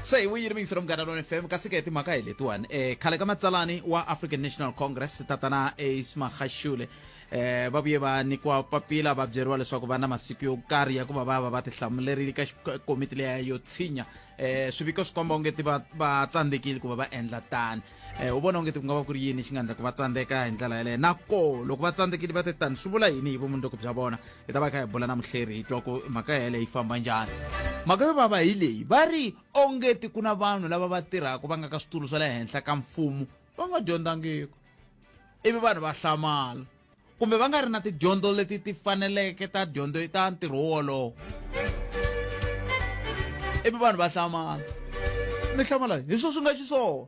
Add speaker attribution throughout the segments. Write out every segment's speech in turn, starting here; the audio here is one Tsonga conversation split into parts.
Speaker 1: se hi vuyile mingiselo munghana lona fm kasi ke timhaka hi letiwani eh khale ka matsalani wa african national congress tatana ace magashule eh va vuye va nyikiwa papila va byeriwa leswaku va na masiku yo karhi ya ku va va va va tihlamulerile ka xi- komiti leya yo tshinya eh swiviko swi komba onge ti va va tsandzekile ku va va endla tani um u vona onge ti ku nga va ku ri yini xi nga endla ku va tsandzeka hi ndlela yeleyo na ko loko va tsandzekile va te tani swi vula yini hi vumundzuku bya vona hi ta va hi kha hi bula na muhleri hi twa ku mhaka yeleyo yi famba njhani mhaka yo vava hi leyi va ri onge ti ku na vanhu lava va tirhaka va nga ka switulu swa le henhla ka mfumo va nga dyondzangiki ivi vanhu va hlamala kumbe va nga ri na tidyondzo leti ti faneleke ta dyondzo ta ntirho wolowo ivi vanhu va hlamala mi hlamala hi swo swi nga xiswona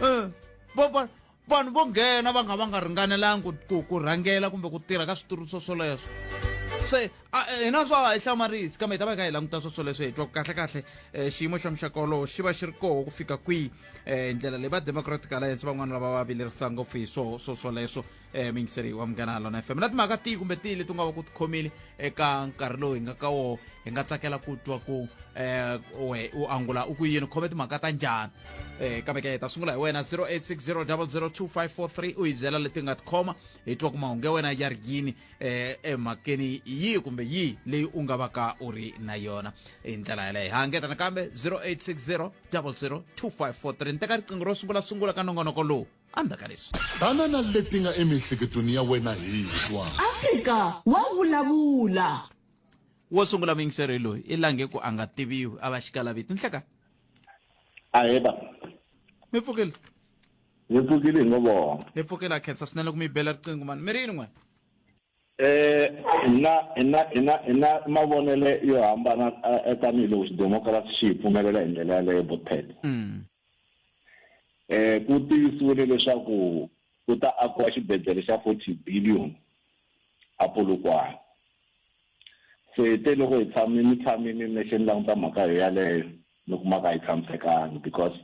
Speaker 1: um eh, vanhu vo nghena va nga va nga ringanelangi ku ku rhangela kumbe ku tirha ka switulu swo swoleswo se a eh, hina swa hi hlamarisi kambe hi ta va ka hi languta swa swoleswo hi twa kahlekahle um xiyimo xa muxaka wolowo xi va xi ri koho ku fika kwihi um ndlela leyi va democratic alliance van'wana lava va vilerisa ngopfu hi swo swo swoleswo um mingiseri wa munghana lona fm na timhaka tihi kumbe tihi leti nga va ku ti khomile eka nkarhi lowu hi nga ka woho hi nga tsakela ku twa ku um we u angula u ku yini khome timhaka ta njhani um kambe ke hi ta sungula hi wena 0860 002 543 u hi byela leti nga tikhoma hi twa ku mahungu ya wena ya ri yini eh emhakeni yihi kumbe yihi leyi u nga va ka u ri na yona hi ndlela yaleyo ha ngeta nakambe 0860 002543 ni teka riqingho ro sungula sungula ka nongonoko lowu endzhaku ka leswi banana leti nga
Speaker 2: emiehleketweni ya wena hi twa afrika wa
Speaker 3: vulavula wo
Speaker 1: sungula muyingiseri loyi i lange ku a nga tiviwi a va xikalaviti nhleka
Speaker 4: aheba
Speaker 1: mi pfukile Ni
Speaker 4: pfukile hi ngo vona. Hi pfukile ha khensa
Speaker 1: swinene loko mi hi bela riqingho mani. Mi ri yini n'we? Eh, hi na
Speaker 4: hi na hi na hi na mavonele yo hambana eh, eh, tanihiloko xidemokirasi xi hi pfumelela hi ndlela yaleyo botpet Mm. eh ku tivisiwile leswaku ku ta akiwa xibedhlele xa 40 billion a Polokwane se te loko hi tshame ni tshame ni nexe ni languta mhaka yo yaleyo ni kuma ka yi tshamisekangi because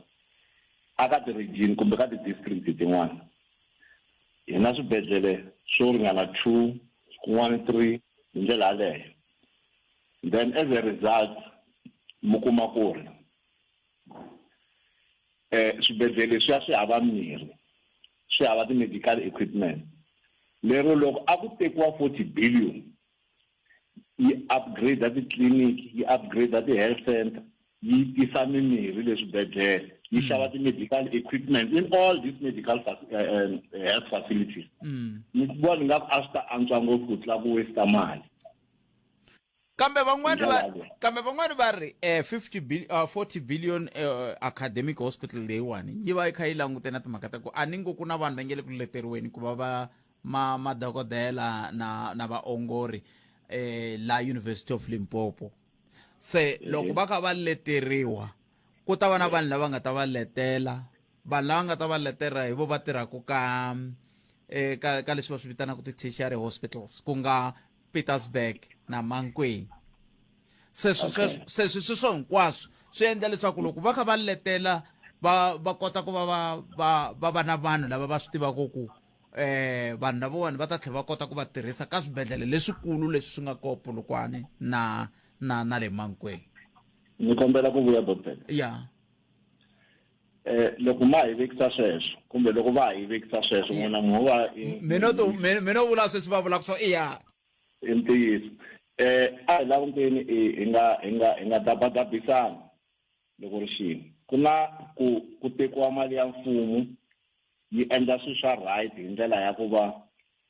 Speaker 4: a ka ti-region kumbe ka ti-district tin'wana hi na swibedhlele swo ringana two kun'wana three hi ndlela yaleyo then as a result mi kuma ku ri um swibedhlele swi ya swi hava mirhi swi hava ti-medical equipment lero loko a ku tekiwa forty billion yi upgrade titliliniki yi upgrade ti-health center yi tisa mimirhi le swibedhlele yi xava mm. ti-medical equipment in all these medical uh, uh, health facilities mm. ni vona ni nga ku a swi ta antswa ngopfu ku tlula ku westa mali
Speaker 1: kambe van'wani va kambe van'wani va ri eh 50 billion uh, 40 billion uh, academic hospital leyiwani yi va yi kha yi langute na timhaka ta ku a ni ngo ku na vanhu va nge le ku leteriweni ku va va ma madokodela na na vaongori eh la University of Limpopo se loko va ka va leteriwa ku ta va na vanhu lava nga ta va letela vanhu lava nga ta va letela hi vo va tirhaka ka eh ka ka leswi va swi vitanaka ti-tertiary hospitals ku nga Petersburg na Mankweng se sweswo se sweswo hinkwaswo swi endla leswaku loko va kha va letela va va kota ku va va va va va na vanhu lava va swi tivaka ku eh vanhu lavawani va ta tlhela va kota ku va tirhisa ka swibedhlele leswikulu leswi swi nga ko polokwane na na na le mankweni ni kombela
Speaker 4: ku vuya doctor ya
Speaker 1: eh
Speaker 4: loko ma hi vekisa sweswo kumbe loko va hi vekisa sweswo n'wina mu va mina to mina
Speaker 1: u vula sweswi va vula ku so i ya i ntiyiso
Speaker 4: eh a hi languteni hi nga hi nga hi nga dabadabisana loko ri xini ku na ku ku tekiwa mali ya mfumo yi endla swilo swa right hi ndlela ya ku va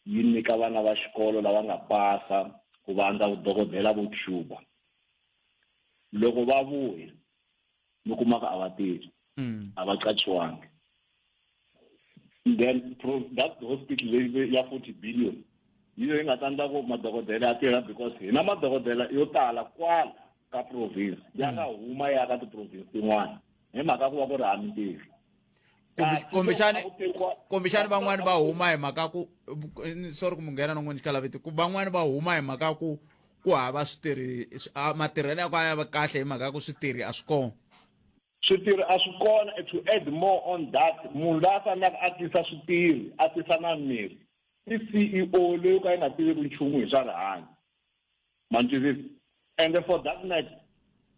Speaker 4: yi nyika vana va xikolo lava nga pasa ku va andza vudokodela vo cuba loko va vuya mi kuma ku a va tirhi mm. a va qachiwangi then that hospital leyi ya forty billion yi leyi nga ta endla ku madokodela ya tirha because hina madokodela yo tala kwala ka province ya nga huma ya ka tiprovince tin'wana hi mhaka ku va ku ri hami ntirho kumbexani
Speaker 1: kumbexani van'wani va huma hi mhaka ku sorry ku munghena no n'wini xikalaviti ku van'wani va huma hi mhaka ku ku hava switirhi matirhelo ya ku a ya va kahle hi mhaka ku switirhi a swi kona Switirhi
Speaker 4: a swi kona and to add more on that munhu la a fanelaka a tisa switirhi a tisa na mirhi i CEO leyi ka yi nga tiveki nchumu hi swa rihanyo ma ni twisisa and for that matter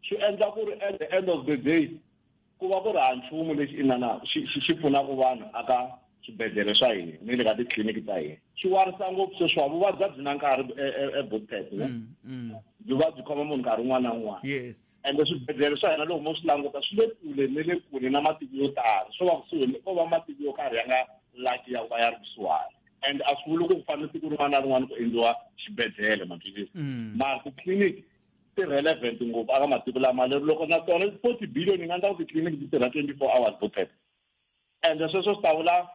Speaker 4: swi endla ku ri at the end of the day ku va ku ri ha nchumu lexi inana xi xi pfunaka vanhu aka swibedhlele swa hina ni le ka titliliniki ta hina swi warisa ngopfu sweswiwa vuvabyi a byi na nkarhi ebotpet e, e, e mm, mm. byi va byi khoma munhu nkarhi un'wana na un'wana ende swibedhlele
Speaker 1: swa
Speaker 4: hina loko mo swi languta swi le kule ni le kule na matiko yo tala swo va kusuhi ko va matiko yo karhi ya nga laki ya ku va ya ri kusuhani and a swi vuli ku ku fanele siku rin'wana na rin'wana ku endliwa xibedhlele maphilisi mm. mara titliliniki ti-relevant ngopfu aka matiko lama lero loko na tona forty billion yi nga endla ku titliliniki ti tirha twenty four hours botpet Endla sweswo swi ta vula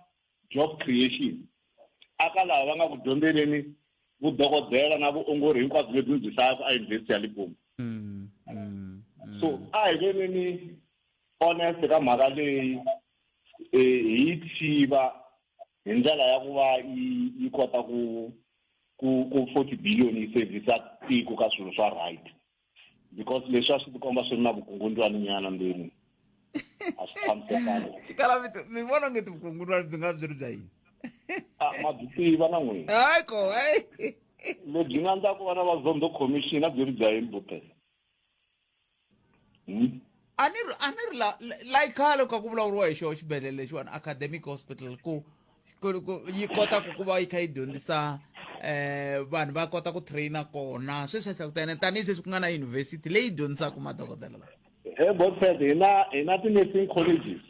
Speaker 4: job creation. Aka lava va nga ku dyondzeleni vudokodela na vuongori hinkwabyo lebyi mi byi hlayaka eYunivhesiti ya Limpopo. Mm, mm, mm. So a hi veneni honest ka mhaka leyi eh, hi yi tshiva hi ndlela ya ku va yi kota ku ku ku 40 billion yi servisa tiko ka swilo swa right because leswi a swi tikomba swi ri na vukungundzwani nyana ndzeni a swi tshamisekanga xikalavito mi
Speaker 1: vona nge tivukungundzwani byi nga byi ri bya yini Ah, ma byi
Speaker 4: tiva na n'wina hayi ko hayi lebyi nga ndza ku va na vazondo commission a byi ri bya yini bute Hmm?
Speaker 1: a ni ri a ni ri la la- la yi khale ku kha ku vulavuriwa hi xona xibedhlele lexiwani academic hospital ku ku- ku- yi kota ku ku va yi kha yi dyondzisa um vanhu va kota ku traina kona sweswi hlakutene tanihi sweswi ku nga na yunivhesiti leyi dyondzisaka madokodela lawa he botfed hi
Speaker 4: na hi na ti-nursing colleges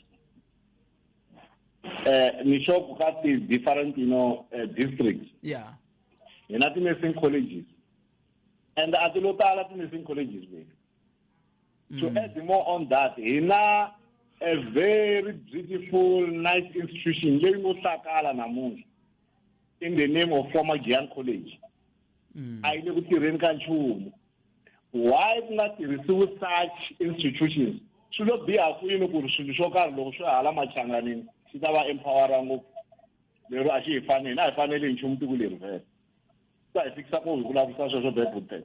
Speaker 4: eh ni sure ku ka ti-different you know eh, districts ya hi
Speaker 1: na
Speaker 4: ti-nursing colleges and a ti lo tala ti-nursing colleges leti to mm. add more on that hi na a very beautiful nice institution leyi ngo hlakala namuntlha in the name of former gian college mm. a yi le ku tirheni ka nchumu why ku nga tirhisiwi such institutions swi lo biha kwini ku ri swilo swo karhi loko swi hala machanganini swi ta va empowera ngopfu lero a xi hi fanele a hi fanele hi nchumu tiko leri vhele sa hi fikisa ku hi ku lavisisa sweswo bebutele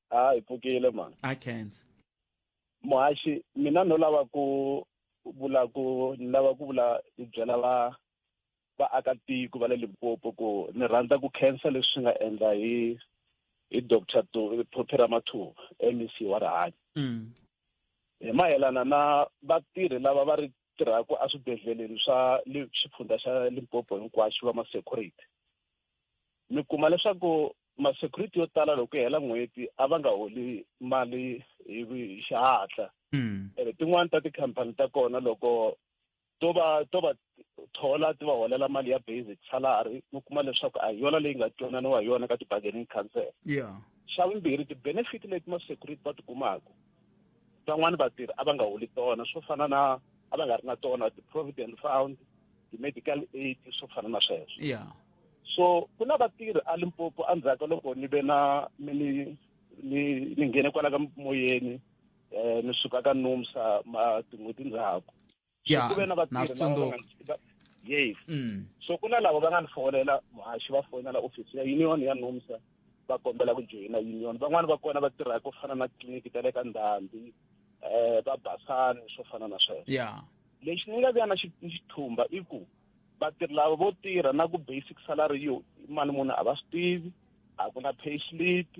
Speaker 1: ha hi
Speaker 5: pfukile mhani i can't
Speaker 1: muhaxi
Speaker 5: mina no lava ku vula ku ni lava ku vula ni byela va vaakatiko va le limpopo ku ni rhandza ku khensa leswi nga endla hi hi doctor phopera mathuba mec wa rihanyo mm. hi mayelana na vatirhi lava va ri tirhaka eswibedhleleni swa xifundzha xa limpopo hinkwaxo va ma-security mi kuma leswaku ma-security yo tala loko hela n'hweti a va nga holi mali hi xihatla hmm. ene tin'wani ta tikhampani ta kona loko to va to va thola ti va holela mali ya basic salary mi kuma leswaku a hi yona leyi nga twananiwa hi yona ka ti-bargaining council yeah xa
Speaker 1: vumbirhi
Speaker 5: ti-benefit leti ma-security va ti kumaka van'wani vatirhi a va nga holi tona swo fana na a va nga ri na tona ti-provident fund ti-medical aid swo fana na sweswo yeah so
Speaker 1: ku
Speaker 5: na vatirhi a limpopo endzhaku ka loko ni ve na mi ni ni ni nghene kwala ka moyeni um ni suka ka nomsa ma tin'hweti ndzhaku ya ku ve na na
Speaker 1: swi
Speaker 5: tsundzuka yes mm. so ku na lava va nga ni fonela muhaxi va fonela ofisi ya union ya nomsa va kombela ku joyina union van'wani va kona va tirha ku fana na tliliniki ta le ka ndhambi um va basani swo fana na sweswo ya lexi ni
Speaker 1: nga vya
Speaker 5: na xithumba i ku vatirhi lava vo tirha na ku basic salary yo mali munhu a va swi tivi a ku na pay slip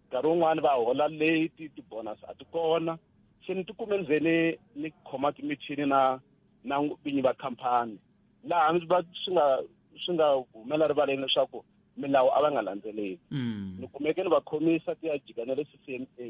Speaker 5: nkarhi wun'wani va hola late ti-bonus a ti kona se ni tikume ni ze ni ni khoma timichini na na vinyi va khampani laha ni va swi nga swi nga humela rivaleni leswaku milawu a va nga landzeleli mm. ni kumeke ni va khomisa ti ya jika na le c c m a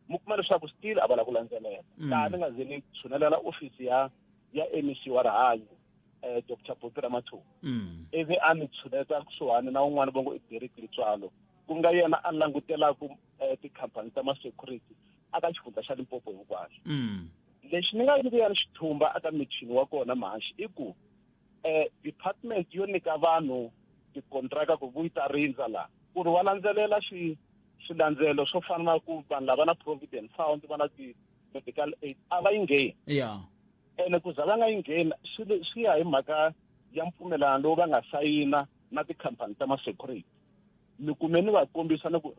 Speaker 5: mi kuma leswaku still a va la ku landzelela mm. laha ni nga ze ni tshunelela ofisi ya ya mec wa rihanyo eh Dr Buti Ramathuba mm. ivi a ni tshuneta kusuhani na un'wana va ngo i Derek Litswalo ku nga yena a langutelaka eh, tikhampani ta masecurity aka xifundza xa Limpopo hinkwaxo mm. lexi ni nga nyikuyana xithumba aka michini wa kona mahaxi i ku eh department yo nyika vanhu tikontraka ku vuyi ta rindza laha ku ri va landzelela swi swilandzelo swo fana na ku vanhu lava na provident fund va na ti-medical aid a va yi ngheni yeah. ene ku za va nga yi ngheni swi swi ya hi mhaka ya mpfumelelano lowu va nga sayina na tikhampani ta masecurity mi kume ni va kombisa ni ku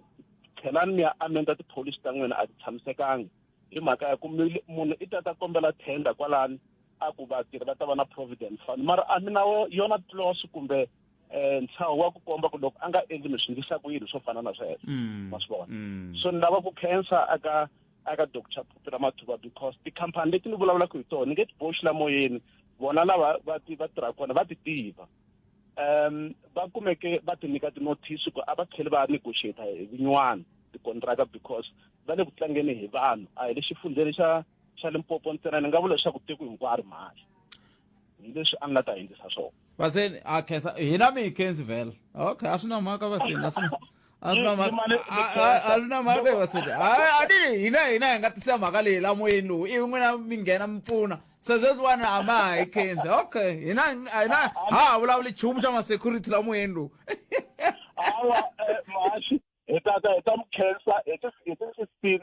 Speaker 5: tlhelani mi ya amenda tipholisi ta n'wina a ti tshamisekanga hi mhaka ya ku munhu i ta ta kombela tender kwalani a ku vatirhi va ta va na providence fund mara a mi na yona tlos kumbe um ntshaho wa ku komba ku loko a nga endli mi swi ndlisa ku yini swo fana na sweswo mm. ma swi vona mm. so ni lava ku khensa aka aka doctor phupira mathuba because tikhampani leti ni vulavulaka hi tona ni nge ti boxi la moyeni vona lava va ti va tirhaka kona va ti tiva um va kumeke va ti nyika tinothisi ku a va tlheli va negotiata hi vinywana tikontraka because va le ku tlangeni hi vanhu a hi le xifundzeni xa xa limpopo ntsena ni nga vula leswaku tiko hinkwaro mhani hi leswi a nga ta endlisa swona va se a khensa
Speaker 1: hina mi hi khensi vhela okay a swi na mhaka va sini a swi na a swi na mhaka a swi na mhaka va sini a ni hina hina hi nga tisa mhaka leyi la moyeni lowu ivi n'wina mi nghena mi pfuna se sweswiwani a ma ha yi khensi okay hina hina ha ha vulavuli nchumu xa ma-security la moyeni lowu hawa
Speaker 5: eh, mahaxi hi tata hi ta mi khensa hi ti-fifteen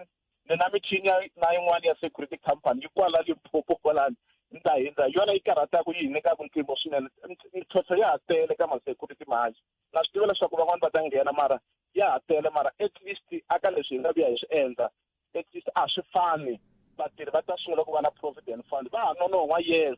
Speaker 5: ni na michini ya na yin'wana ya security company yi kwala limpopo kwalani ni ta hindza hi yona yi karhataka yi hi nyikaka mpimo swinene mintlhontlho ya ha tele ka ma-security manje na swi tiva leswaku van'wani va ta nghena mara ya ha tele mara at least aka leswi hi nga vuya hi swi endla at least a swi fani vatirhi va ta sungula ku va na provident fund va ha nonon'hwa yes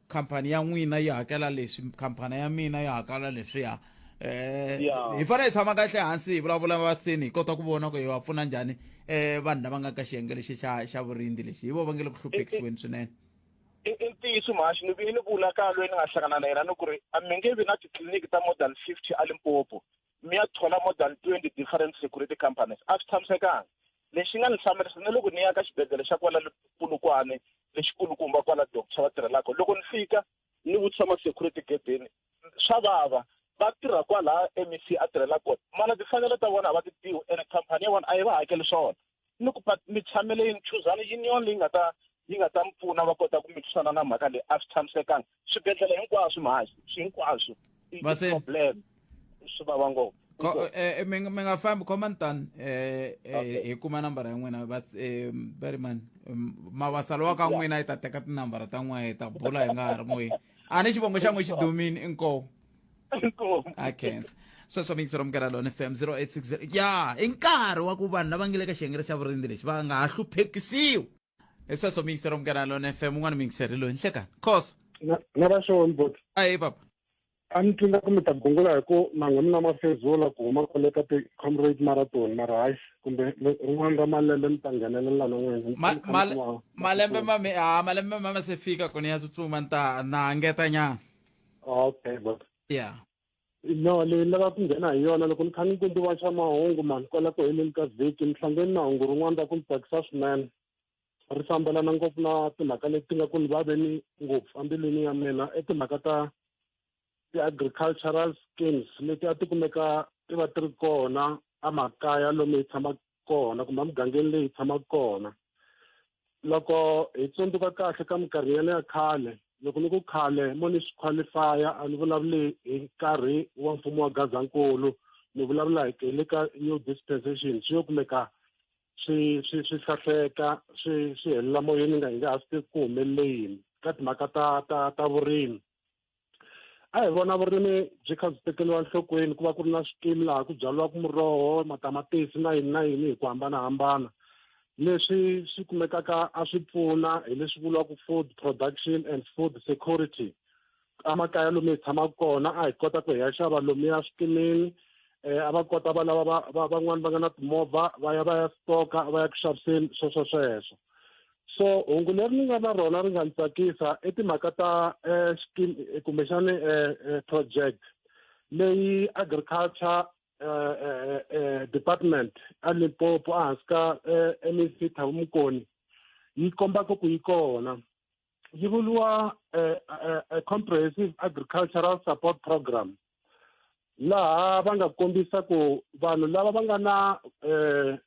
Speaker 1: khampani ya n'wina yi hakela leswi khampani ya mina yi hakela leswiya eh Yeah. hi fanele hi tshama kahle hansi hi vulavula vaseni hi kota ku vona ku hi va pfuna njhani eh vanhu lava nga ka xiyenge lexi xa xa vurindzi lexi hi vo va nge le ku hluphekisiweni swinene i i
Speaker 5: ntiyiso mhaxi ni vi ni vula ka loyi ni nga hlangana na yena ni ku ri a mi nge vi na titliliniki ta more than fifty a limpopo mi ya thola more than twenty different security companies a swi tshamisekanga lexi nga ni hlamerisa ni loko ni ya ka xibedhlele xa kwala pulukwane lexikulukumba kwala doctor va tirhelaka loko ni fika ni vutisa ma-security gedeni swa vava va tirha kwalaha mec a tirhela kona mana timfanelo ta vona a va ti tiwi ene khampani ya vona a yi va hakeli swona ni ku mi tshamele yini chuzani union leyi nga ta yi nga ta mi pfuna va kota ku mi twisana na mhaka leyi a swi tshamisekanga swibedhlele hinkwaswo mhazi swi hinkwaswo problem swi vava ngopfu eh, eh,
Speaker 1: mi nga fambi khoma ni tani eh, hi kuma nambara ya n'wina veryman mavasalo wa ka n'wina yi ta teka tinambara ta n'wina hi ta bula hi nga ha ri moyeni a ni xivongo xa n'wi xi dumini inkomu inkomo i can't sweswo mixer omkela lona fm 0860 ya i nkarhi wa ku vanhu lava nge le ka xiyengelo xa vurindzi lexi va nga ha hluphekisiwi hi sweswo mixer omkela lona fm un'wana mixer loyi nhlekani khosa na na va xona
Speaker 6: bot ayi papa
Speaker 1: a ni twi nga
Speaker 6: ku mi ta gungula hi ku manghwini na mafezula ku huma kwale ka ti-comrade marathon mara hayi kumbe le- rin'wana ra malembe mi ta nghenelela na n'wina Mi Ma- fanele male- mi wa- malembe mame ha
Speaker 1: malembe mame se fika kuni ya tsutsuma ni ta na ngeta nyana okay
Speaker 6: but yeah
Speaker 1: no
Speaker 6: leyi ni lava ku nghena hi yona loko ni kha ni kundiwa xa mahungu mani kwala ku heleni ka vhiki ni hlangeni na hungu rin'wana ra ku ni tsakisa swinene ri fambelana ngopfu na timhaka leti nga ku ni vaveni ngopfu embilwini ya mina i timhaka ta ti-agricultural schemes leti a ti kumeka ti va ti ri kona emakaya lomu hi tshamaka kona kumbe emugangeni leyi hi tshamaka kona loko hi tsundzuka kahle ka minkarhi yale ya khale loko ni ku khale mo ni swi qualify-a a ni vulavuli hi nkarhi wa mfumo wa gazankulu ni vulavula hi le ka new dispensation swi yo kumeka swi swi swi hlahleka swi swi helela moyeni ni nga hi nga ha swi tivi ku humelele yini ka timhaka ta ta ta vurimi a hi vona vurimi byi kha byi tekeriwa enhlokweni ku va ku ri na swikimi laha ku byariwaka muroho matamatisi na yini na yini hi ku hambanahambana leswi swi kumekaka a swi pfuna hi leswi vuriwaka food production and food security emakaya lomu hi tshamaka kona a hi kota ku hi ya xava lomuya swikimini um a va kota va lava va van'wani va nga na timovha va ya va ya stoka va ya ku xaviseni sweswo sweswo so hungu leri ni nga na rona ri nga ni tsakisa i timhaka ta eh, scheme eh, kumbexani eh, eh, project leyi agriculture eh, eh, eh, department a limpopo ehansi ka eh, mec thavu mukoni yi kombaka ku yi kona yi vuriwa eh, eh, eh, comprehensive agricultural support program laha va nga kombisa ku vanhu lava va nga na eh,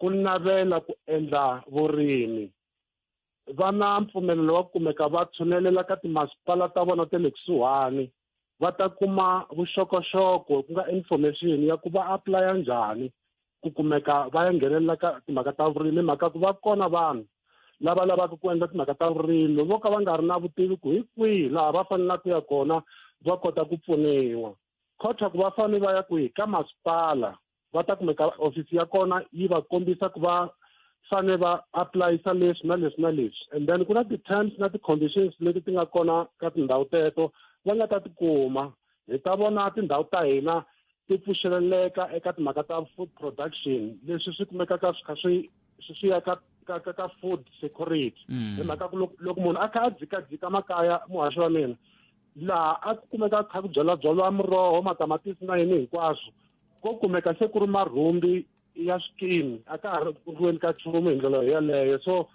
Speaker 6: ku navela ku endla vurimi va na mpfumelelo wa ku kumeka va tshunelela ka timasipala ta vona ta le kusuhani va ta kuma vuxokoxoko ku nga information ya ku va aplaya njhani ku kumeka va ya nghenelela ka timhaka ta vurimi hi mhaka ku va kona vanhu lava lavaka ku endla timhaka ta vurimi vo ka va nga ri na vutivi ku hi kwihi laha va fanelaka ku ya kona va kota ku pfuniwa khotha ku va fanele va ya kwihi ka masipala va ta kumeka ofisi ya kona yi va kombisa ku va fane va aplayisa leswi na leswi na leswi and then ku na ti-terms na ti-conditions leti ti nga kona ka tindhawu teto va nga ta tikuma hi ta vona tindhawu ta hina ti pfuxeleleka eka timhaka ta food production leswi swi kumekaka swi kha swi swi ya ka ka ka ka food security hi mhaka ku loko munhu a kha a dzikadzika makaya muhaxi wa mina laha a kumeka kha ku byala byala muroho matamatisi na yini hinkwaswo ko kumeka se ku ri marhumbi ya swikimi a ka ha ri riweni ka nchumu hi ndlela yeleyo so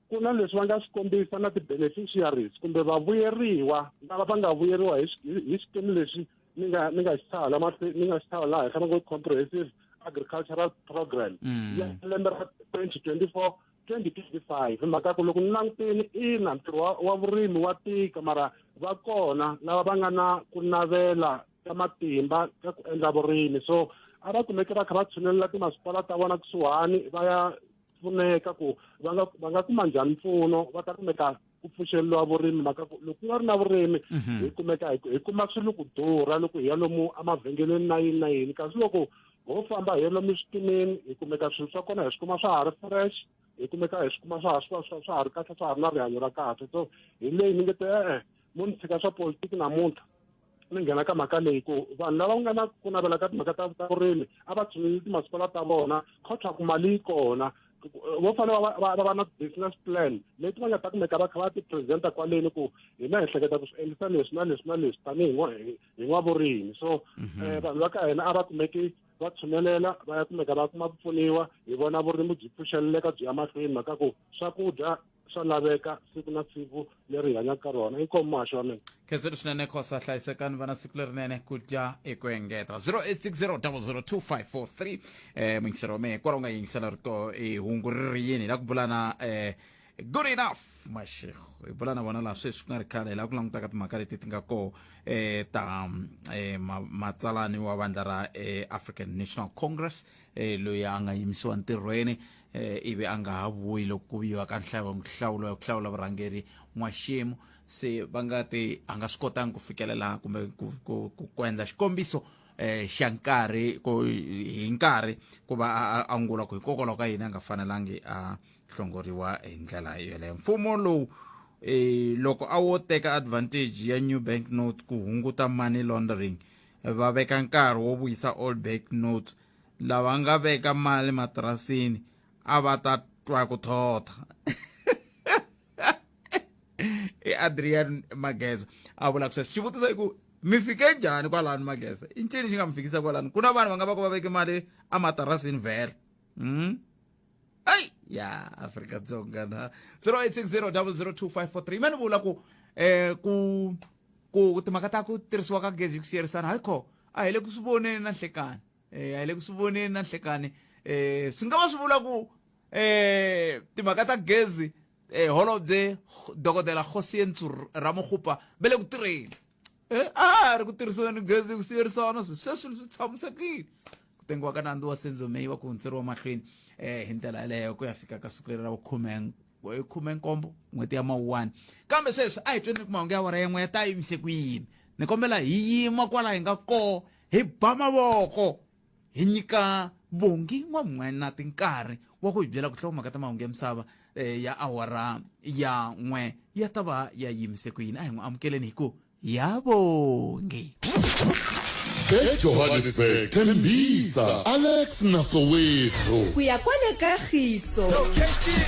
Speaker 6: ku na leswi va nga swi kombisa na ti-beneficiaries kumbe vavuyeriwa lava va nga vuyeriwa hi hi xikimi lexi ni nga ni nga xi tshaha lama ni nga xi tshaha laha henhla va ngo comprehensive agricultural program mm. ya lembe ra twenty twenty four twenty twenty five hi mhaka ku loko ni langutini ina ntirho wa vurimi wa tika mara va kona lava va nga na ku navela ta matimba ka ku endla vurimi so a va kumeke va kha va tshunelela timasipala ta vona kusuhani va ya pfuneka ku va nga va nga kuma njhani mpfuno va ta kumeka ku pfuxeliwa vurimi maka ku loko ku nga ri na vurimi mhm. hi kumeka hi kuma swi ri ku durha loko hi ya lomu emavhengeleni na yini na yini kasi loko ho famba hi ya lomu switimeni hi kumeka swilo swa kona hi swi kuma swa ha ri fresh hi kumeka hi swi kuma swa ha swa swa swa ha ri kahle swa ha ri na rihanyo ra kahle so hi leyi ni nge te e-e mo ni tshika swa politiki namuntlha ni nghena ka mhaka leyi ku vanhu lava nga na ku navela ka timhaka ta ta vurimi a va tshunguli timasipala ta vona khotha ku mali yi kona vo fanele va va na business plan leti va nga ta kumeka va kha va ti-presenta kwaleni ku hina hi hleketa ku swi endlisa leswi na leswi na leswi tanihi hi n'wavurimi so mhm. eh, vanhu va ka hina a va kumeki va tshunelela va ya kumeka va kuma ku pfuniwa hi vona vurimi byi pfuxeleleka byi ya mahlweni mhaka ku swakudya swa laveka siku na siku leri hi hanyaka ka rona inkomu mahasho wa mina khenselo swinene khosa
Speaker 1: hlayisekani vana siku lerinene ku dya hi ku engeta 0860002543 eh mingiselo wa mehe hikwalaho nga yingisela rito eh, hungu ri ri yini hi la ku bula na eh, good enough mashego hi bula na vona laha sweswi ku nga ri khale hi la ku langutaka timhaka leti ti nga koho eh, ta eh, ma- matsalani wa vandla ra eh, african national congress eh, loyi a nga yimisiwa ntirhweni eh, ivi a nga ha vuyi loko ku viyiwa ka nhlawulo ya ku hlawula vurhangeri n'waxemu se va nga ti a nga swi kotangi ku fikelela kumbe ku, ku, ku, ku endla xikombiso eh xa nkarhi ku hi nkarhi ku va a angula ku hikokwalaho ka yini a nga fanelangi a hlongoriwa hi ndlela yoleyo mfumo lowu eh loko a wo teka advantage ya new bank note ku hunguta money laundering va veka nkarhi wo vuyisa old bank note lava nga veka mali matirasini a va ta twa ku thotha i adrian mageza a vula ku sweswo xivutiso i ku mi fike njhani kwalani mageza i ncini xi nga mi fikisa kwalani ku na vanhu va nga va ku va veke mali ematirasini vhele mm? ai ya afrika dzonga na 0860 002 mani vula ku eh ku ku timhaka ta ku tirhisiwa ka gezi ku siyerisana hayi kho a hi le ku swi voneni na nhlekani eh, a hi le ku swi voneni na nhlekani um swi nga va swi vula ku um timhaka ta gezi um holobye dokodela kgosi yentsu ramogopa ve le ku tirheni um a ha ri ku tirhisiweni gezi ku siyerisana swi sweswi swi tshamisekile ku tengiwa ka nandzu wa senzo may wa ku hundzeriwa mahlweni um hi ndlela yaleyo ku ya fika ka siku leri ra vukhume khume nkombo n'hweti ya mawuwani kambe sweswi a hi tweni ni ku mahungu ya wara yan'we ya ta yimise ku yini ni kombela hi yima kwala hi nga kona hi ba mavoko hi nyika vongi n'wan'wenati nkarhi wa ku hi byela ku hlawumaka ta mahungu ya misava um ya awara ya n'we ya ta va ya yimise ku yini a hi n'wi amukeleni hi ku ya vongi
Speaker 2: ejohannesburg thembisa alex na soweto ku ya kwale
Speaker 3: kagiso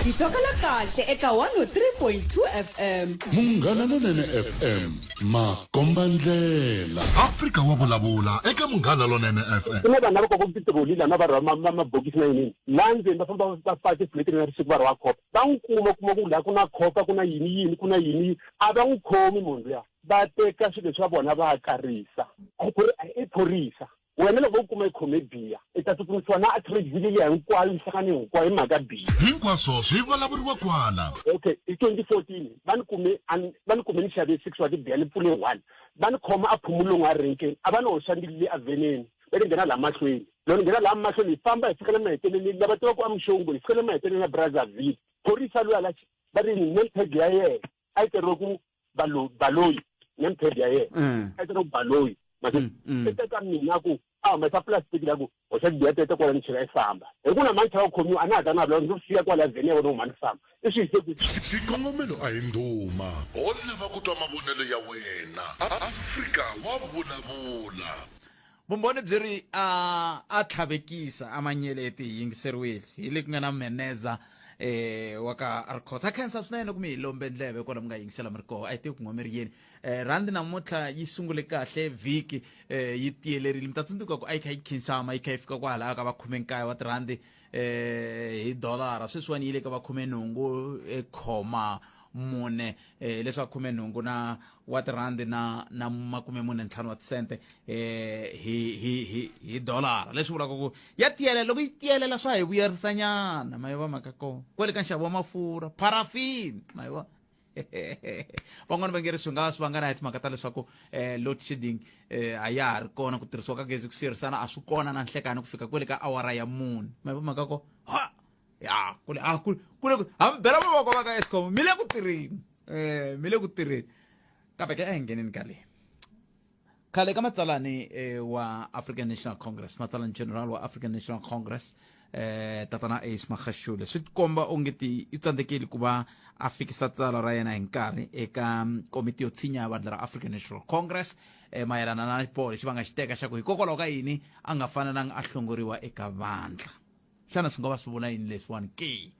Speaker 3: hi twakala kahle eka 103.2 fm munghana lonene
Speaker 2: fm makombandlela afrika wa vulavula eka munghana lonene fm ku na vanhu lava koko titiroli
Speaker 6: lana va rhwa mabokisi na yinini laha ndzeni va famba va faka tifuleti na risiku va rhwa khopa va n'wi kuma kuma ku laha ku na khopa ku na yini yini ku na yini a va n'wi khomi munhu luya va teka swilo swa vona va karisa ku ri i phorisa Wena loko u kuma i khome biya, i ta tsutsumisiwa na Adcrate-Ville liya hinkwayo, minhlangano hinkwayo hi mhaka biya. Hinkwaswo swi
Speaker 2: vulavuriwa kwala. Okay, hi 2014
Speaker 6: va ni kume a ni, va ni kume ni xave six wa tibiya ni pfule one. Va ni khoma a Phumulungu a renkeni, a va ni hoxa ndlwini leyi evheneni va ni nghena laha mahlweni. Loko ni nghena laha mahlweni hi famba hi fika le maheteleleni, lava tivaka a Mxongo hi fika le maheteleleni ya Brazzaville, phorisa luya la va ri name tag ya yena a yi tsariwe ku balo baloyi ne mphedi ya yena mm. a tsena ku baloyi mase mm, mm. se ka mina ku a huma sa plastic la ku o xa biya tete kwala ni chela i famba hi ku na mantlha wa khomiwa a na ha ta na vula ndzi siya kwala vheni ya vona huma ni famba i swi hise ku xikongomelo a hi
Speaker 2: ndhuma ho lava ku twa mavonelo ya wena afrika wa vulavula vumbhoni
Speaker 1: byi ri a a tlhavekisa a manyeleti hi yingiseriwile hi le ku nga na meneza eh wa ka arcos a khensa swinene kumbe hi lombe ndleve kwala mi nga yingisela mi ri koho a yi tivi ku n'wa mi ri yini eh rhandi namuntlha yi sungule kahle vhiki eh yi tiyelerile mi ta tsundzuka ku a yi kha yi khinxama yi kha yi fika kwalaho ka va khume nkaye wa tirhandi eh hi dolara sweswiwani yi le ka va khume nhungu eh, khoma mune eh leswa khume nhungu na wa tirhandi na na makume mune ntlhanu wa tisente eh hi hi hi hi dolara leswi vulaka ku ya tiyelela loko yi tiyelela swa hi vuyerisanyana mayiva maka kona kwele ka nxavo wa mafurha parafini mayiva van'wani va nge ri swi nga swi vangana hi timhaka ta leswaku eh, load shedding eh, a ya ha ri kona ku tirhisiwa ka gezi ku siyerisana a swi kona na nhlekani ku fika kwele ka awara ya mune ma va mhaka ko ha ya kule a ah, kule kule hambi bela mavoko va ka escom mi le ku tirheni um mi le ku tirheni kambe ke a hi ngeneni ka leyi khale ka matsalani eh, wa african national congress matsalani general wa african national congress eh, tatana ace magashule swi tikomba onge ti i tsandzekeli ku va a fikisa tsala ra yena hi nkarhi eka mm, komiti yo tshinya ya vandla ra african national congress eh, mayelana na xiboho lexi va nga xi teka xa ku hikokwalaho ka yini a nga fanelanga a hlongoriwa eka vandla xana swi nga va swi vula yini leswiwani ke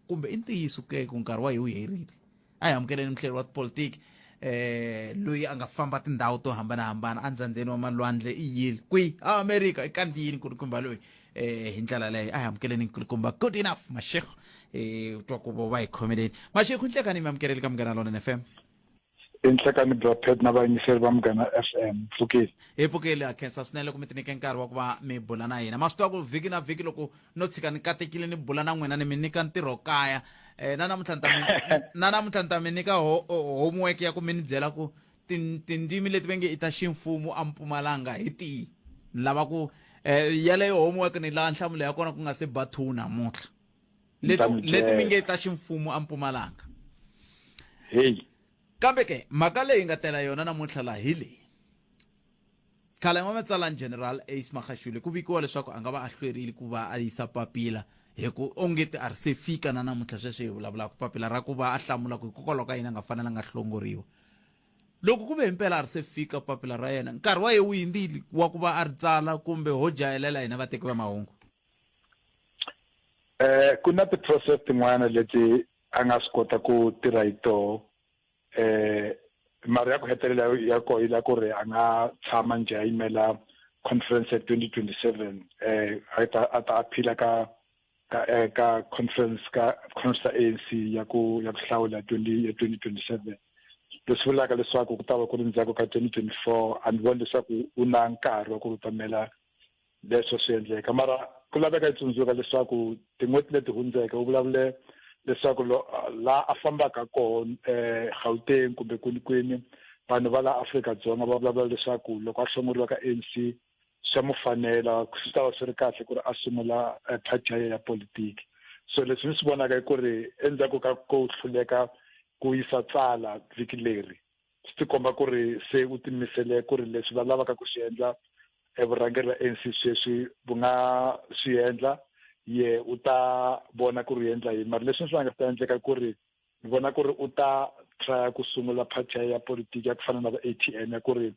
Speaker 1: kumbe i ntiyiso ke ku nkarhi wa hi wu herile a hi amukeleni muhleri wa tipolitiki eh loyi a nga famba tindhawu to hambanahambana endzhandzheni wa malwandle i yile kwi a amerika i kandziyini nkulukumba loyi eh hi ndlela leyo a hi amukeleni nkulukumba good enough mashekho eh u twa ku vo va hi khomeleni mashekho nhlekani mi amukeleli ka munghana lona fm enhlekani
Speaker 7: bya pet na vayingiseri va munghana fm pfukile hi pfukile ha khensa
Speaker 1: swinene loko mi tinike nkarhi wa ku va mi bula na hina ma swi tiva ku vhiki na vhiki loko no tshika ni katekile ni bula na n'wina ni mi nyika ntirho kaya um na namuntlha ni ta na namuntlha ni ta mi nyika homework ya ku mi ni byela ku tindzimi leti ve nge i ta ximfumo ampumalanga hi tihi ni lava ku um eh, yaleyo homework ni lava nhlamulo ya kona ku nga se ba two namuntlha leti mi nge ta ximfumo ampumalanga heyi
Speaker 7: kambe
Speaker 1: ke mhaka leyi nga tela yona namuntlha laha hi leyi Khale n'wamatsalani General Ace Magashule ku vikiwa leswaku a nga va a hlwerile ku va a yisa papila hi ku onge ti ri se fika na namuntlha sweswi hi vulavulaka papila ra ku va a hlamula ku hikokwalaho ka yini a nga fanelanga a hlongoriwa loko ku ve himpela a ri se fika papila ra yena nkarhi wa ye wu hindzile wa ku va a ri tsala kumbe ho jayelela hina vateki va mahungu
Speaker 7: eh ku na ti-process tin'wana leti a nga swi kota ku tirha hi toho eh mara ya ku hetelela ya ko yi la ku ri a nga tshama nje a yimela conference ya 2027 eh a ta a ta aphila ka ka eh, ka conference ka conference ya ANC ya ku ya ku hlawula 20 ya 2027 leswi vulaka leswaku ku ta va ku ri ndzhaku ka 2024 a ni voni leswaku u na nkarhi wa ku rutamela leswo swi endleka mara ku laveka yi tsundzuka leswaku tin'hweti leti hundzeke u vulavule leswaku la a fambaka koho um eh, gauteng kumbe kwinikwini vanhu va la afrika dzonga va vulavula leswaku loko a hlongoriwa ka anc swa mu fanela swi ta va swi ri kahle ku ri a sungula eh, party ya ya politiki so leswi ni swi vonaka i ku ri endzhaku ka ku hluleka ku yisa tsala vhiki leri swi tikomba ku ri se u timisele ku ri leswi va lavaka ku swi endla evurhangeri va ANC sweswi bu nga swi endla ye u ta vona ku ri endla yini mara leswi swi nga ta endleka ku ri ni vona ku ri u ta trya ku sungula party ya politiki ya ku fana na va a t m ya ku ri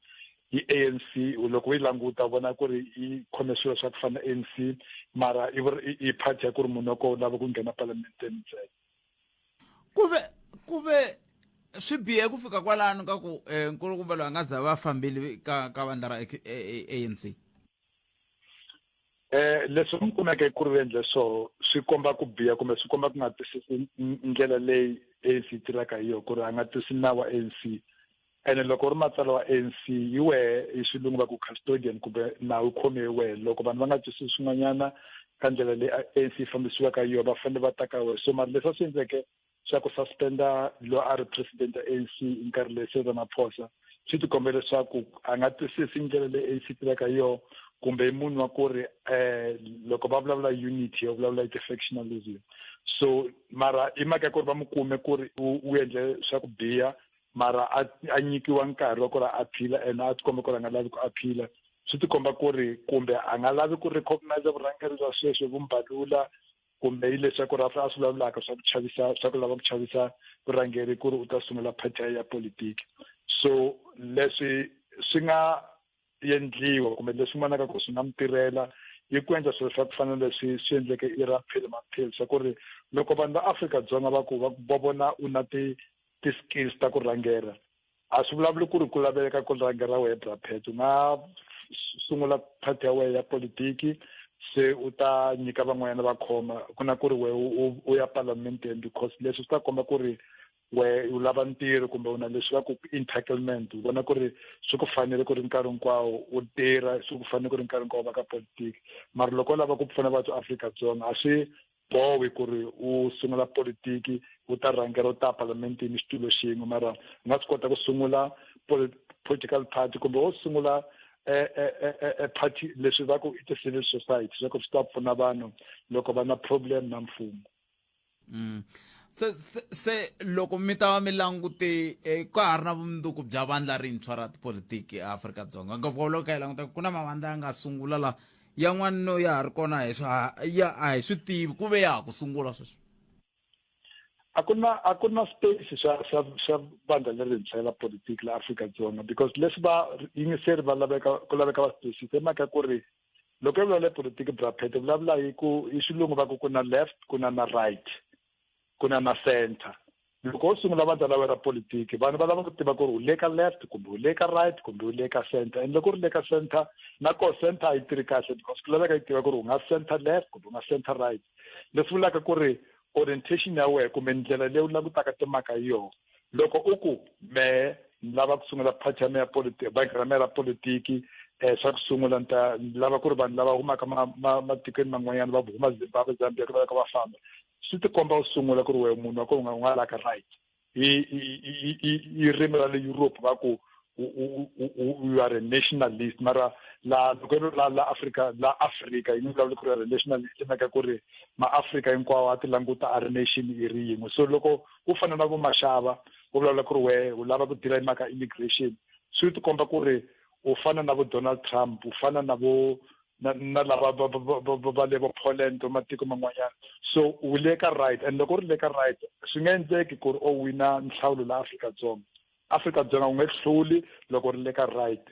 Speaker 7: yi a n c loko u yi languta vona ku ri yi khome swilo swa ku fana na a n c mara i party ya ku ri munhu wa kona u lava ku nghena palamenteni ntsena ku ve
Speaker 1: ku ve swi bihe ku fika kwalano ka ku eh, nkulukumba loyi a nga za va fambile ka ka vandla ra anc eh,
Speaker 7: eh leswi mi kumeke ku ri endle so swi komba ku biha kumbe swi komba ku nga twisisi ndlela leyi ANC yi tirhaka hi yona ku ri a nga twisi nawu wa ANC ene loko ri matsalwa ANC hi wehe hi xilungu va ku custodian kumbe nawu khome hi wehe loko vanhu va nga twisisi swin'wanyana ka ndlela leyi ANC yi fambisiwaka hi yona va fanele va ta ka wehe so mari leswi a swi endleke xa ku suspenda lo a ri president ya ANC hi nkarhi leyi se Ramaphosa swi ti kombe leswaku a nga twisisi ndlela leyi ANC tirhaka hi yona kumbe i munhu wa ku ri eh loko va vulavula unity yo vulavula hi ti-factionalism so mara i mhaka ya ku ri va mu kume ku ri u endle swa ku biha mara a a nyikiwa nkarhi wa ku ri a phila and a tikomba ku ri a nga lavi ku a phila swi tikomba ku ri kumbe a nga lavi ku recognize vurhangeri bya sweswi vu mbalula kumbe yi leswaku ri a swi vulavulaka swa ku chavisa swa ku lava ku chavisa vurhangeri ku ri u ta sungula party ya politiki so leswi swi nga endliwa kumbe leswi n'wana ka ku swi nga mi tirhela yi ku endla swilo swa ku fana leswi swi endleke i ra phil maphil swa ku ri loko vanhu va afrika-dzonga va ku va ku vona u na ti ti-skills ta ku rhangela a swi vulavuli ku ri ku laveka ku rhangela wehe brapet u nga sungula party ya wehe ya politiki se u ta nyika van'wanyana va khoma ku na ku ri wehe u ya parlamenteni because leswi swi ta komba ku ri we u lava ntirho kumbe u na leswi va ku entitlement u vona ku ri swi ku fanele ku ri nkarhi hinkwawo u tirha swi ku fanele ku ri nkarhi hinkwawo va ka politiki mara loko u lava ku pfuna vathu afrika-dzonga a swi bowi ku ri u sungula politiki u ta rhangela u ta parlamentini xitulu xin'we mara u nga swi kota ku sungula political party kumbe wo sungula e, e, e, party leswi va ku i ti-civil society swa ku swi ta pfuna vanhu loko va na problem na mfumo Mm. Se,
Speaker 1: se, se loko mi ta va mi langute eh, ka ha ri na vumundzuku bya vandla rintshwa ra tipolitiki eAfrika-Dzonga ngopfu loko hi languta ku na mavandla ya nga sungula la yan'wana no ya ha ri kona hi swa ya a hi swi tivi ku ve ya ha ku sungula sweswi
Speaker 7: a ku na a ku na space xa xa xa vandla lerintshwa la politiki la Afrika-Dzonga because leswi va yingiseri va laveka ku laveka va space se maka ku ri loko hi vulavula politiki braphet hi vulavula hi ku hi xilungu va ku ku na left ku na na right ku na na center loko u sungula vandla la wena ra politiki vanhu va lava ku tiva ku ri u le ka left kumbe u le ka right kumbe u le ka center and loko u ri le ka center na ko center a yi tirhi kahle because ku laveka yi tiva ku ri u nga center left kumbe u nga center right leswi vulaka ku ri orientation ya wena kumbe ndlela leyi u langutaka timhaka hi yona loko u ku mehe ni lava ku sungula party ya me ya politiki bangi ra me ra politiki um xa ku sungula ni ta ni lava ku ri vanhu lava humaka matikweni man'wanyana va huma zimbabwe zambia ku laveka va famba swi ti komba u sungula ku ri wehe munhu wa ko u nga u nga laka right i i i i rimi ra le europe va ku u, u, u, you are a nationalist mara la loko ri la la Africa la Africa yi vulavula ku ri a nationalist maka ku ri maafrika hinkwawo a ti languta a ri nation i ri yin'we so loko u fana na vo maxava u vulavula ku ri wehe u lava ku dila hi mhaka immigration swi ti komba ku ri u fana na vo donald trump u fana na vo na na lava va le vo poland va matiko man'wanyana so u le ka right and loko u ri le ka right swi nga endleki ku ri o wina nhlawulo la afrika dzonga Afrika Dzonga u nge hluli loko u ri le ka right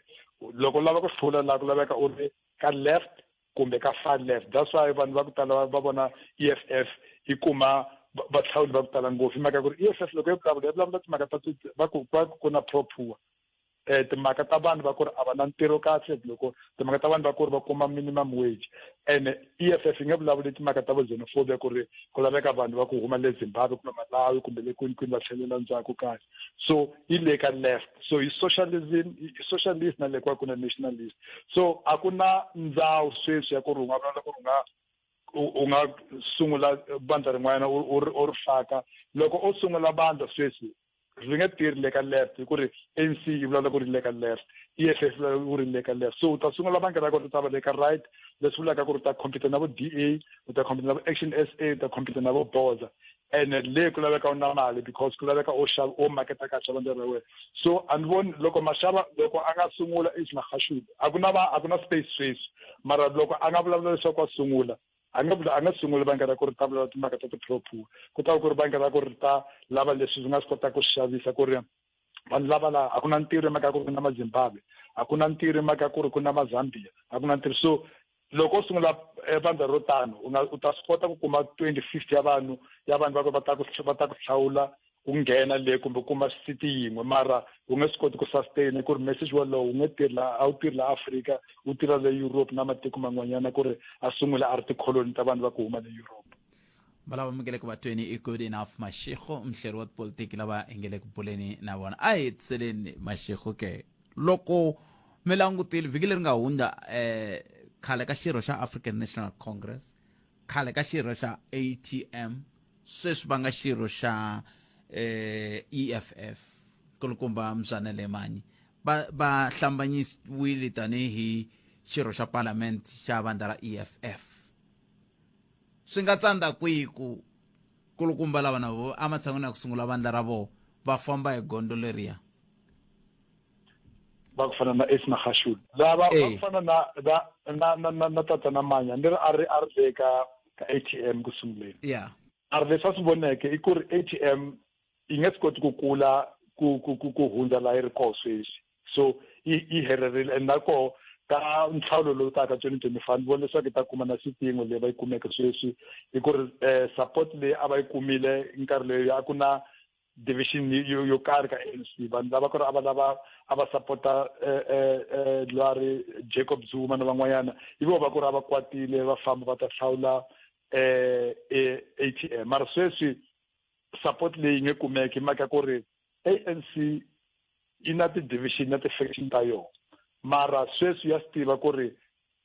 Speaker 7: loko u lava ku hlula laha ku laveka u ri ka left kumbe ka far left that's why vanhu va ku tala va vona e f f yi kuma vahlawuli va ku tala ngopfu hi mhaka ku ri e f f loko yi vulavula yi vulavula timhaka ta va ku va ku na pro poor um timhaka ta vanhu va ku ri a va na ntirho kahle loko timhaka ta vanhu va ku ri va kuma minimum wage and EFF yi nge vulavuli timhaka ta xenophobia ku ri ku laveka vanhu va ku huma le Zimbabwe kumbe Malawi kumbe le kwini kwini va tlhelela ndzhaku kahle so yi le ka left so hi socialism hi socialist na le kwa ku na nationalist so a ku na ndzawu sweswi ya ku ri u nga vulavula ku ri u nga u nga sungula bandla rin'wana u ri faka loko u sungula bandla sweswi ndzi nge tirhi le ka left hi ku ri anc yi vulavula ku ri le ka left eff yi vulavula ku ri le ka left so u ta sungula bangi ra kona u ta va le ka right leswi vulaka ku ri u ta compete na vo d a u ta compete na vo action s a u ta compete na vo boza ene le ku laveka u na mali because ku laveka o xava o maketa ka xavandla ra wena so a ni voni loko maxava loko a nga sungula is maxashule a ku na va a ku na space sweswi mara loko a nga vulavula leswaku a sungula a nga vula a nga sunguli bangi ra ku ri ta vulavula timhaka ta ti-propu ku ta va ku ri bangi ra ku ri ta lava leswi byi nga swi kotaka ku xavisa ku ri vanhu lava laha a ku na ntirho hi mhaka ya ku ri ku na mazimbabwe a ku na ntirho hi mhaka ya ku ri ku na mazambia a ku na ntirho so loko u sungula eh, vandla ro tano u ta swi kota ku kuma twenty fifty ya vanhu ya vanhu va ku va ta ku va ta ku hlawula ku nghena le kumbe kuma city yin'we mara wu nge swi koti ku sustain ku ri message wolowo wu nge tirhi laha a wu tirhi laha afrika wu tirha le europe na matiko man'wanyana ku ri a sungula a ri tikholoni ta vanhu va ku huma le europe valava
Speaker 1: mingele ku vatweni i good enough mashego mhleri wa tipolitiki lava hi nge le ku buleni na vona a hi hetiseleni mashego ke loko mi langutile vhiki leri nga hundza um khale ka xirho xa african national congress khale ka xirho xa atm sweswi va nga xirho xa eh, eff nkulukumba mzana lemanyi va va hlambanyisiwile tanihi xirho xa parlament xa vandla ra eff swi nga tsandza kwihi ku kulukumba lava na vo ematshan'wini ya ku sungula vandla ra vona va famba hi gondo leriya
Speaker 7: va ku fana na Esna Gashul lava va ku fana na na na na na tata na manya ni ri a ri a ri le ka ka ATM ku sunguleni yeah a ri leswi a swi voneke i ku ri ATM yi nge swi koti ku kula ku ku ku ku hundza la yi ri koho sweswi so yi yi helerile and na koho ka nhlawulo lowu taka twenty twenty five ni vona leswaku yi ta kuma na xipingo leyi va yi kumeke sweswi hi ku ri um support leyi a va yi kumile nkarhi leyi a ku na division yo yo karhi ka ANC vanhu lava ku ri a va lava a va sapota eh, eh, eh, lwari Jacob Zuma na van'wanyana hi vo va ku ri a va kwatile va famba va ta hlawula um ATM mara sweswi support leyi nge kumeki maka ku ri ANC yi na ti-division na ti-faction ta yona mara sweswi ya swi tiva ku ri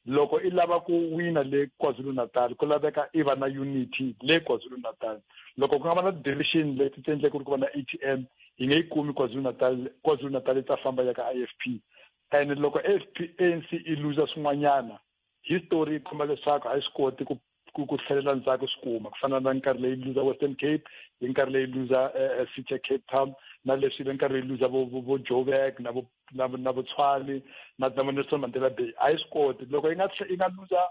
Speaker 7: Loko i lava ku wina le KwaZulu-Natal ku laveka i va na unity le KwaZulu-Natal. Loko ku nga va na ti-division leti ti endleke ku ri ku va na ATM yi nge yi kumi KwaZulu-Natal, KwaZulu-Natal yi ta famba yi ya ka IFP. And loko AFP ANC yi looser swin'wanyana history yi komba leswaku a yi swi koti ku ku ku tlhelela ndzhaku swi kuma ku fana na nkarhi leyi luza western cape hi nkarhi leyi luza eh, eh, city cape town na leswi ve nkarhi leyi luza vo joburg na vo na na botshwane na na nelson mandela bay a yi swi koti loko yi nga yi nga luza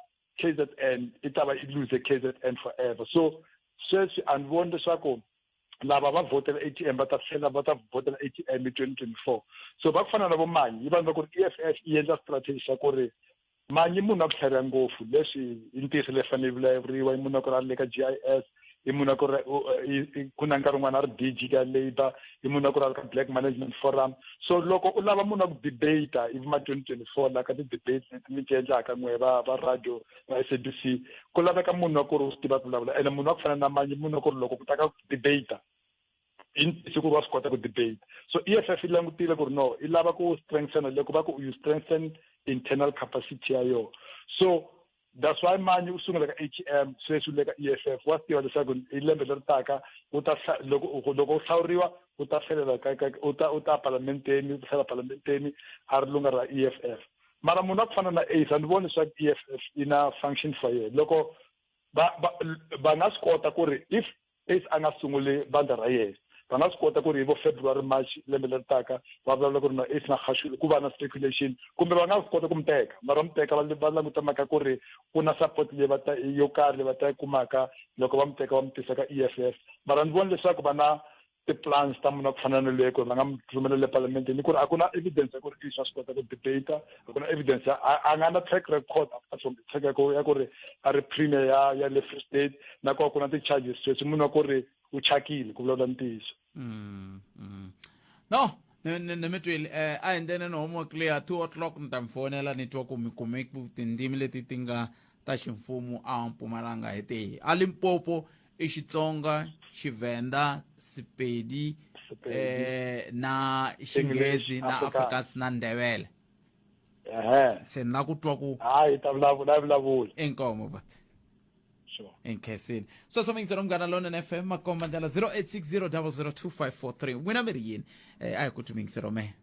Speaker 7: kzn i ta va i luze kzn forever so sweswi a ni voni leswaku lava va vhotela a t m va ta tlhela va ta vhotela a t m hi twenty twenty four so va ku fana na vomanyi yi vanhu va ku ri e f f yi endla strategy xa ku ri Manyi munhu a ku tlhariha ngopfu leswi i ntirho leyi fanele vulavuriwa i munhu a ku ri a ri le ka g i s i munhu a ku ri ku na nkarhi wun'wana a ri bg ka labour i munhu a ku ri a ri ka black management forum so loko u lava munhu a ku debate ivi ma twenty twenty four la ka ti-debate leti mi ti endlaka n'we va va radio va s a b c ku laveka munhu wa ku ri u swi tiva ku vulavula ene munhu wa ku fana na manyi munhu wa ku ri loko ku ta ka debate hi ntiyiso ku ri wa swi kota ku debate so e f f yi langutile ku ri no i lava ku strengthena le ku va ku you strengthen internal capacity ya yona so that's why manje u sungula ka atm sweswi u le ka e f f wa swi tiva leswaku hi lembe leri taka u ta loko loko u hlawuriwa u ta hlalela u ta u ta parlamenteni u ta hlalela parlamenteni a ri lunga ra e f f mara munhu a ku fana na ace a ni voni leswaku e f f yi na function for yena loko va va va nga swi kota ku ri if if a nga sunguli vandla ra yena va nga swi kota ku ri hi vo february march lembe leri taka va vulavula ku ri na if na khashule ku va na speculation kumbe va nga swi kota ku mi teka mara mi teka va languta mhaka ku ri ku na support leyi va ta yo karhi leyi va ta yi kumaka loko va mi teka va mi tisa ka e f f mara ni vona leswaku va na ti-plans ta muna ku fana na leyi ku ri va nga mi rhumela le palamenteni ku ri a ku na evidence ya ku ri i swa swi kota ku debate ku na evidence a nga na track record track record ya ku ri a ri premier ya ya le free state na ku ku na ti-charges sweswi munhu wa ku ri u chakile ku vulavula ntiyiso mm, mm.
Speaker 1: no ni mi twile um a hi ndene ni homework leya two o'clock ni ta mi fonela ni twa ku mi kume tindzimi leti ti nga ta ximfumo a mpumalanga hi tihi a limpopo i xitsonga xivenda sipedi Sepedi. eh, na xinghezi na Afrikaans. afrikaans na ndebele ehe se ni la ku twa ku hayi ta vulavula ya
Speaker 7: vulavula inkomo but
Speaker 1: sure enkhesini sweswo mi ngisela munghana lona na fm makomba ndlela 0860 002 543 n'wina mi ri yini eh, a hi ku twi mi ngiselo mehe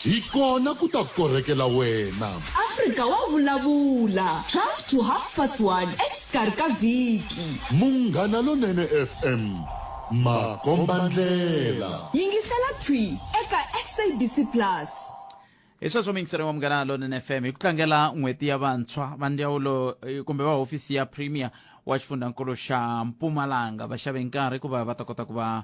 Speaker 1: Hi kona ku ta
Speaker 2: korhekela wena. Afrika wa
Speaker 3: vulavula, 12 to half past one exikarhi ka vhiki. Munghana
Speaker 2: Lonene FM, makombandlela. Yingisela thwi
Speaker 3: eka SABC Plus. Hi sweswo
Speaker 1: miyingiselo wa Munghana Lonene FM hi ku tlangela n'hweti ya vantshwa va ndzawulo eh, kumbe va hofisi ya Premier wa xifundzhankulu xa Mpumalanga va xave nkarhi ku va va ta kota ku va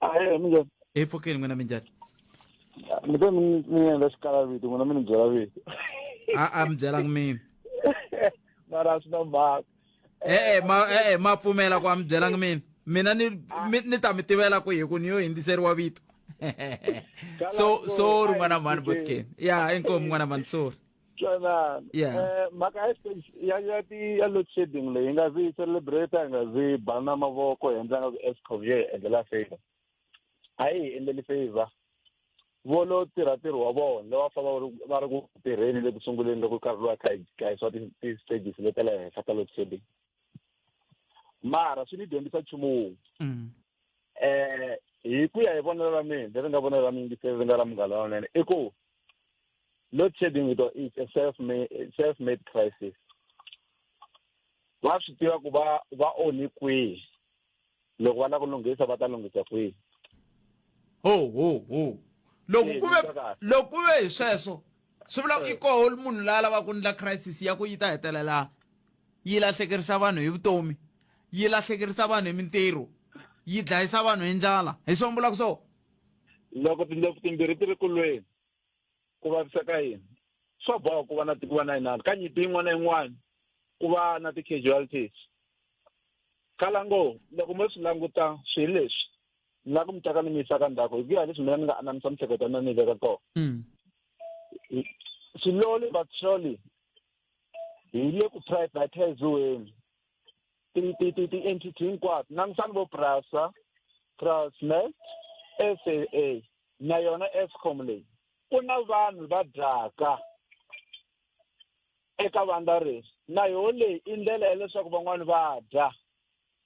Speaker 1: ahe
Speaker 6: minjhani hi pfukile n'wina minjhani mi te
Speaker 1: mi ni-
Speaker 6: mi endla xikala vito
Speaker 1: n'wina
Speaker 6: mi ni byela vito a a mi byelanga
Speaker 1: mina
Speaker 5: mara a swi na mhaka e-e ma
Speaker 1: e-e ma pfumela ku a mi byelanga mina mina ni mi- ni ta mi tivela ku hi ku ni yo hindziseriwa vito so sorry n'wana mhani botken ya inkomu n'wana mhani sorry twanana Yeah. Eh, mhaka
Speaker 5: ya stage ya ya ti ya load shedding leyi nga zi yi celebrate hi nga zi yi bana mavoko hi endla nga ku escom yo hi endlela favor a yi hi endleli favor vo lo tirha ntirho wa vona lowa fa va ri- va ri ku tirheni le ku sunguleni loko nkarhi lowa kha hi kha hi swa ti- ti-stages leta le henhla ta load shedding mara swi ni dyondzisa nchumu wun'we Mm. eh hi ku ya hi vonelo ra mina leri nga vonelo ra mina se ri nga ra munghana lonene i ku load shedding yi to- is a self made self made crisis va swi tiva ku va va onhi kwihi loko va lava ku lunghisa va ta lunghisa kwihi ho ho ho
Speaker 1: loko ku ve loko ku ve hi sweswo swi vula i koho munhu la lava ku ndla crisis ya ku yi ta hetelela yi lahlekerisa vanhu hi vutomi yi lahlekerisa vanhu hi mintirho yi dlayisa vanhu hi ndlala hi swo mbulaka swo loko
Speaker 5: tindlopfu timbirhi ti ri kulweni ku vavisa ka yini swa boha ku va na ku va na inani ka nyimpi yin'wana na yin'wana ku va na ti-casualties kalango loko mo swi languta swilo leswi ni la ku mi taka ni mi yisa ka ndzhaku hi ku ya leswi mina ni nga anamisa miehleketo ya mina ni yi veka kona hmm. slowly but surely hi le ku privatiziweni ti-entity hinkwato langutani vo prasa transnet s a a na yona escom leyi ku na vanhu va dyaka eka vandla resi na yoho leyi i ndlela ya leswaku van'wani va dya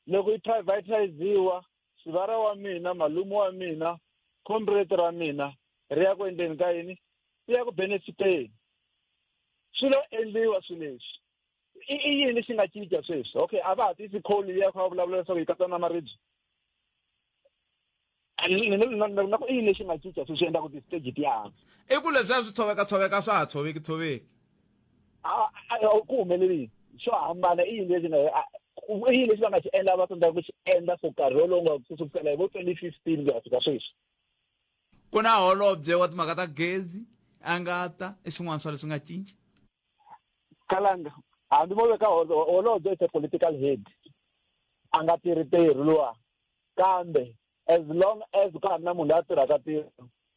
Speaker 5: loko yi privatiziwa xivara wa mina malume wa mina comrade ra mina ri ya ku endleni ka yini ri ya ku benefiteni swi lo endliwa swi leswi i i yini lexi nga cinca sweswi okay a va ha tisi kholi liya kha va vulavula leswaku yi katsana na maribye na ku i yini lexi nga cinca sweswi swi endlaku ti-stage ti yahanga i ku leswiya swi
Speaker 1: tshoveka tshoveka swa ha tshoveki tshoveki
Speaker 5: ku humelelini swo hambana i yini lexi nga i yini lexi va nga xi endla va tsandzaka ku xi endla for nkarhi wolowo nga ku sukusela hi vo twenty fifteen ku ya fika sweswi ku
Speaker 1: na holobye wa timhaka ta gezi a nga ta i swin'wana swa leswi nga cinca
Speaker 5: kalanga hambi vo veka holobye is a political head a nga tirhi tirhi luwa kambe as long as ka ha ri na munhu loyi a tirhaka tirho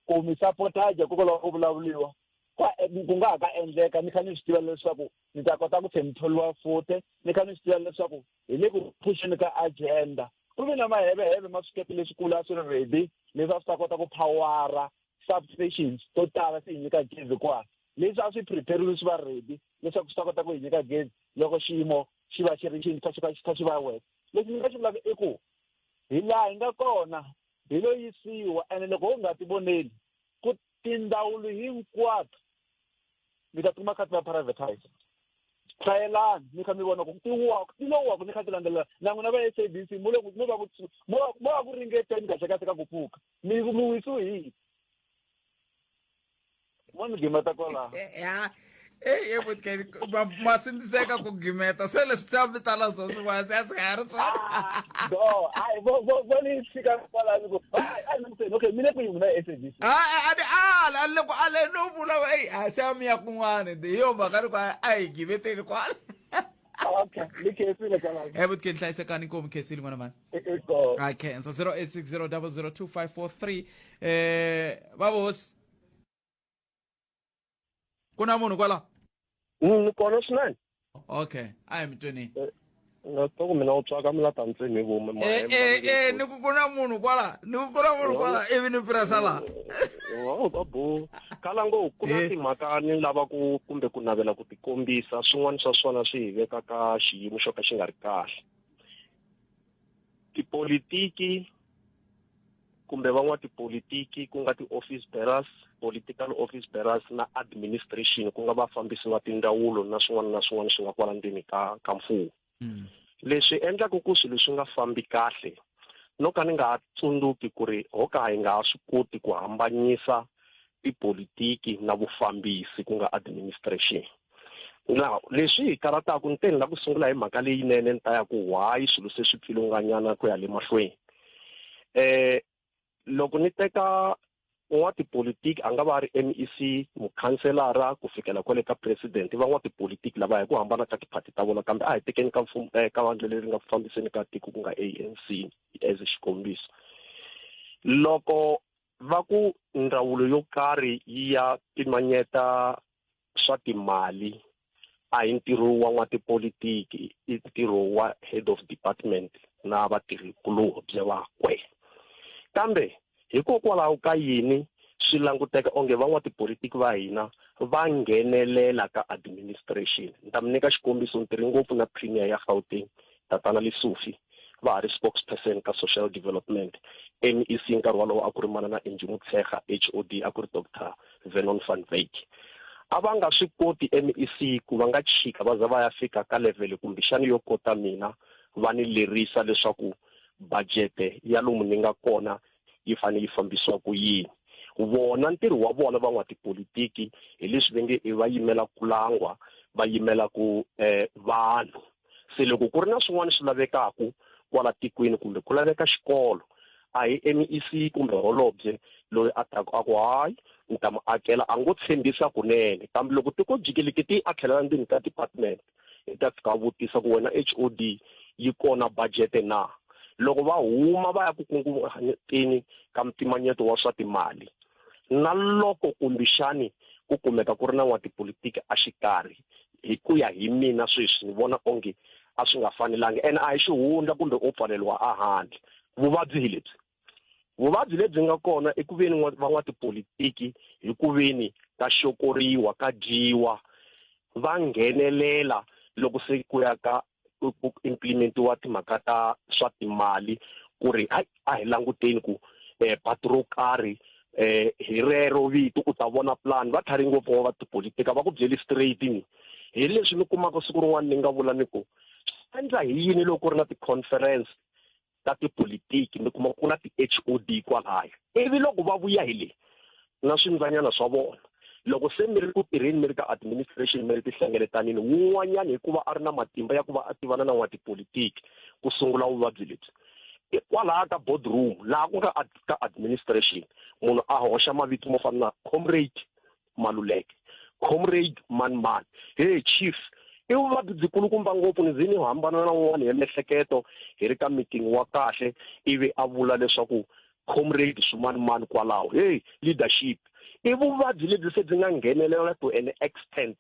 Speaker 5: ku mi sapotaje kokwalaho ku vulavuriwa ku nga ha ka endleka ni kha ni swi tiva leswaku ni ta kota ku tlhe ni tholiwa fute ni kha ni swi tiva leswaku hi le ku phuxeni ka agenda ku ve na maheveheve ma swikepe leswikulu a swi ri ready leswi a swi ta kota ku phawara substations to tala swi hi nyika gezi kwala leswi a swi prepariwe swi va ready leswaku swi ta kota ku hi nyika gezi loko xiyimo xi va xi ri xi kha xi kha xi kha xi va wena lexi ni nga xi vulaka i ku hi laha hi nga kona hi lo yisiwa ene loko ho nga ti voneli ku tindawulo hinkwato mi ta kuma kha ti va privatise hlayelani mi kha mi vona ku ti waku ti lo waku ni kha ti landzelela na n'wina va s a b c mo le mo va ku mo va ku ringeteni kahle kahle ka ku pfuka mi mi wisiwe hi mo ni gimeta kwala ya eyi evotkeni
Speaker 1: ma sindziseka ku gimeta se leswi se a mi tala zwo swin'wana se a swi nga ha ri swona ah, do hayi vo
Speaker 5: ni fika kwala ni ku a ni muteni okay mi le kwihi n'wina sabc a a ni ala a
Speaker 1: ni le ku ale no vula eyi a se a mi ya kun'wana hi yo mhaka ni ku a hi gimeteni kwala okay
Speaker 5: ni khensile kwala evotkeni hlayisekani inkomu
Speaker 1: khensile n'wana mani akhensa 0860002543 eh babosi kuna munhu kwala mm, kona
Speaker 6: swinene okay
Speaker 1: ayi mitweni eh, ngatoku
Speaker 6: mina u tswaka mulata ntsini hi vume eh, eh, eh, ni ku
Speaker 1: ku na munhu kwala ni ku ku na munhu kwala ivi ni pirasa laha babu
Speaker 6: kala ngo ku na timhaka ni lava ku kumbe ku navela ku tikombisa swin'wana swa swona swi hi veka ka xiyimo xo ka xi nga ri kahle tipolitiki kumbe van'watipolitiki ku nga ti-office bearers political office bearers na administration ku nga vafambisi va tindzawulo na swin'wana na swin'wana swi nga kwala ndzeni ka ka mfumo mm. leswi endlaka ku swilo swi nga fambi kahle no ka ni nga ha tsundzuki ku ri ho ka hi nga ha swi koti ku hambanyisa tipolitiki na vufambisi ku nga administration now leswi hi karataku ni te ni la ku sungula hi mhaka leyinene ni ta ya ku why swilo se swi pfilunganyana ku ya le mahlweni eh loko ni teka
Speaker 8: n'watipolitiki a nga va ri m e c mukhanselara ku fikela kwale ka president i van'watipolitiki lava hi ku hambana ka tiphati ta vona kambe a hi tekeni ka mfumo eh, ka vandla leri nga ku fambiseni ka tiko ku nga a n c as xikombiso loko va ku ndzawulo yo karhi yi ya pimanyeta swa timali a hi ntirho wa n'watipolitiki i ntirho wa head of department na vatirhikulobye vakwe kambe hikokwalaho ka yini swi languteka onge van'watipolitiki va hina va nghenelela ka administration ni ta mi nyika xikombiso ni tirhi ngopfu na premier ya gauteng Tatana Lesufi, va ha ri spokesperson ka Social Development, MEC, nkarhi wolowo a ku ri manana Angie Motshekga, HOD, a ku ri Doctor Vernon van Wyk. A va nga swi koti MEC ku va nga chika va za va ya fika ka levhele kumbexana yo kota mina va ni lerisa leswaku bajete ya lomu ni nga kona yi fanele yi fambisiwa ku yini. Vona ntirho wa vona van'watipolitiki hi leswi va nge i va yimela kulangwa, va yimela ku vanhu. se loko ku ri na swin'wana swi lavekaka kwala tikweni kumbe ku laveka xikolo a hi MEC kumbe holobye loyi a taku a ku hayi ni ta mu akela a ngo tshembisa kunene kambe loko tiko jikeleke ti a tlhelela ndzeni ka department hi ta fika vutisa ku wena HOD yi kona budget na loko va huma va ya ku kunguhateni ka mpimanyeto wa swa timali na loko kumbixani ku kumeka ku ri na n'watipolitiki a xikarhi hi ku ya hi mina sweswi ni vona onge a swi nga fanelanga and a hi xihundla kumbe u pfaleriwa a handle vuvabyi hi lebyi vuvabyi lebyi nga kona i ku veni van'watipolitiki hi ku veni ka xokoriwa ka dyiwa va nghenelela loko se ku ya ka ku ku implementiwa timhaka ta swa timali ku ri hayi a hi languteni ku eh patu ro karhi eh hi rero vito u ta vona plan va tlhari ngopfu wa va tipolitika va ku byeli straight ni hi leswi ni kumaka siku rin'wana ni nga vula ni ku endla hi yini loko ri na ti-conference ta tipolitiki mi kuma ku na ti-hod kwalaya ivi loko va vuya hi le na swindzanyana swa vona loko se mi ri ku tirheni mi ri ka administration mi ri tihlengeletanini wun'wanyana hikuva a ri na matimba ya ku va a tivana na n'watipolitiki ku sungula vuvabyi lebyi kwalaha ka boardroom laha ku nga ka administration munhu a hoxa mavito mo fana na comrade maluleke comrade manman hey chief i vuvabyi byi kulukumba ngopfu ni ze ni hambana na un'wana ya miehleketo hi ri ka meeting wa kahle ivi a vula leswaku comrade swimanimani kwalaho hey leadership i vuvabyi lebyi se byi nga nghenelela to an extent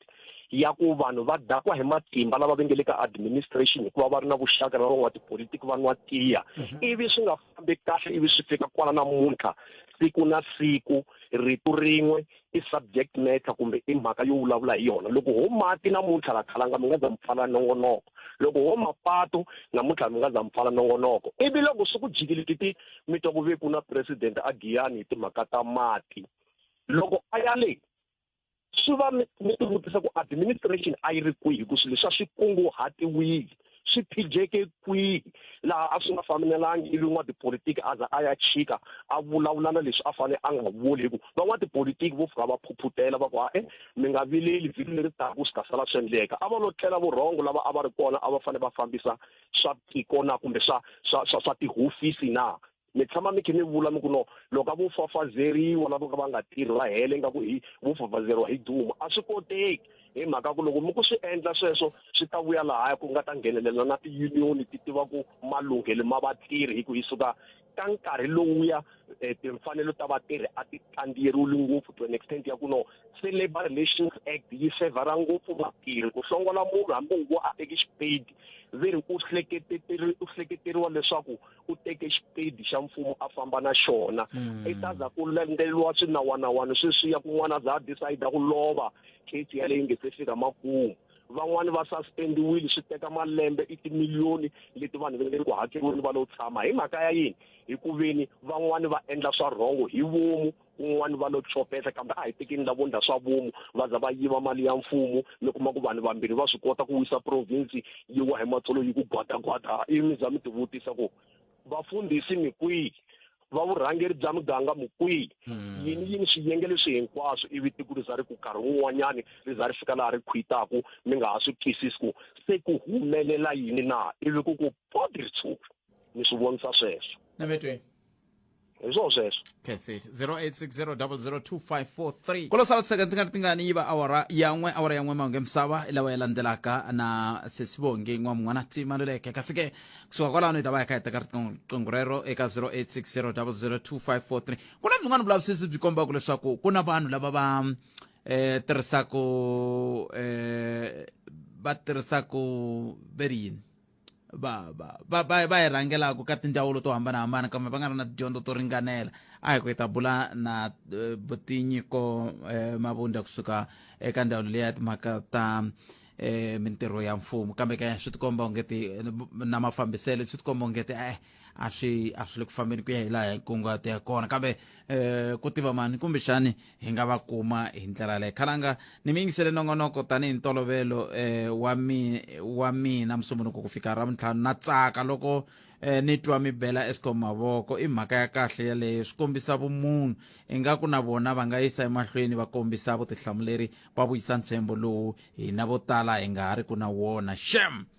Speaker 8: ya ku vanhu va dakwa hi matimba lava vengele ka administration hikuva va ri na vuxaka na van'wa tipolitiki va nwa tiya mhm. ivi swi nga fambi kahle ivi swi fika kwala namuntlha siku na siku rito rin'we i subject matter kumbe i mhaka yo vulavula hi yona loko ho mati namuntlha la khalanga mi nga za mi pfala nongonoko loko ho mapatu namuntlha mi nga za mi pfala nongonoko ivi loko swi ku jikile titi mi twa ku ve ku na president a giyani hi timhaka ta mati loko a ya le swi va mi mi tivutisa ku administration a yi ri kwihi ku swilo swa swi kunguhatiwile swi phijeke kwihi laha a swi nga fambelelanga ivi n'watipolitiki a za a ya chika a vulavula na leswi a fanele a nga vuli hikuva van'watipolitiki vo fika va phuphutela va ku a e mi nga vileli vhiki leri taku swi ta sala swi endleka a va lo tlela vurhongo lava a va ri kona a va fanele va fambisa swa tiko na kumbe swa swa swa swa tihofisi na mi tshama mi khe mi vula mi ku no loko a vo fafazeriwa lavo ka va nga tirhi va hele nga ku hi vo fafazeriwa hi duma a swi koteki hi mhaka ku loko mi ku swi endla sweswo swi ta vuya lahaya ku nga ta nghenelela na tiyuniyoni ti tiva ku malunghelo ma vatirhi hi ku yi suka ka nkarhi lowuya eh, timfanelo ta vatirhi a ti kandziyeriwile ngopfu to an extent ya ku no se labour relations act yi sevhara ngopfu vatirhi ku hlongola munhu hambi ngo a teki xipedi ve ri u hleketeteriwa leswaku u teke xipedi xa mfumo a famba na xona hmm. i ta za ku landzeleriwa swinawanawani sweswiya kun'wana a za a decide ku lova case yaleyi nge se fika makumu van'wani va suspendiwile swi teka malembe i timiliyoni leti vanhu va nge ku hakeriweni va lo tshama hi mhaka ya yini hi ku veni van'wani va endla swa rhongo hi vomu kun'wana va lo tsopeta kambe a hi tekeni lavo ndla swa vomu va za va yiva mali ya mfumo mi kuma ku vanhu vambirhi va swi kota ku wisa province yi wa hi matsolo yi ku gwadagwada ivi mi za mi tivutisa ku vafundhisi mi kwihi va vurhangeri bya muganga mi kwihi hmm. yini yini swiyenge leswi hinkwaswo ivi tiko ri za ri ku karhi wun'wanyani ri za ri fika laha ri khwitaku mi nga ha swi twisisi ku se ku humelela yini na ivi ku ku podi ri tshuka mi swi
Speaker 1: vonisa
Speaker 8: sweswo navetweni hi swo sweswo
Speaker 1: that's it 0860002543 kolo sala tiseka ti nga ri tingani yi va awara ya n'we awara ya n'we mahunge misava i lawa ya landzelaka na sesibongi n'wa mun'wana ti maluleke kasi ke kusuka kwalano hi ta va hi kha hi teka riqingho rero eka 0860002543 ku na byin'wana vulavisisi byi kombaka leswaku ku na vanhu lava va um tirhisaka um va tirhisaka ve ri yini va va va va va hi rhangelaka ka tindzawulo to hambanahambana kambe va nga ri na tidyondzo to ringanela a hi ku hi ta bula na eh, vutinyiko eh, mavundla kusuka eka ndzawulo leyi ya timhaka ta eh, mintirho ya mfumo kambe ke swi tikomba ongeti na mafambiselo swi tikomba ongeti eh a swi a swi le ku fambeni ku ya hi laha hi kunguhate ya kona kambe um ku tiva mani kumbexani hi nga va kuma hi ndlela leyo khalanga ni mi yingisele nongonoko tanihi ntolovelo um wa mi wa mina musumbunuko ku fika ra mintlhanu na tsaka loko eh, ni twa mi bela escom mavoko i mhaka ya kahle yaleyo swi kombisa vumunhu ingaku na vona va nga yisa emahlweni va kombisa vutihlamuleri va vuyisa ntshembo lowu hina vo tala hi nga ha ri ku na wona shem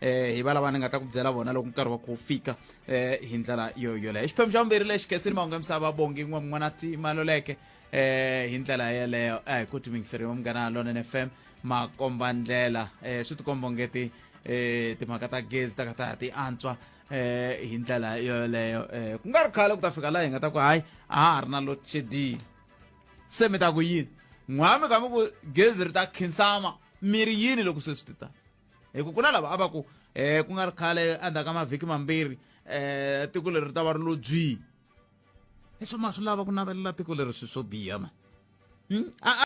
Speaker 1: eh hi valava ni nga ta ku byela vona loko nkarhi wa ku fika eh hi ndlela yo yoleyo xiphemu xa vumbirhi lexi khensini mahungu ya misava bongi n'we mun'wana ti maloleke eh hi ndlela yeleyo a hi ku timingiseriwa munghana lonen f m makomba ndlela eh swi tikomba onge ti eh timhaka ta gezi ta ka ta ti antswa eh hi ndlela yoleyo eh ku nga ri khale ku ta fika laha hi nga ta ku hayi a ha ri na load shedding se mi ta ku yini n'wami ka mi ku gezi ri ta khinsama mi ri yini loko se swi ti tani hi ku ku na lava a va ku um ku nga ri khale endzhaku ka mavhiki mambirhi um tiko leri ri ta va ri lo byi leswo ma swi lava ku navelela tiko leri swi swo biha ma hmm?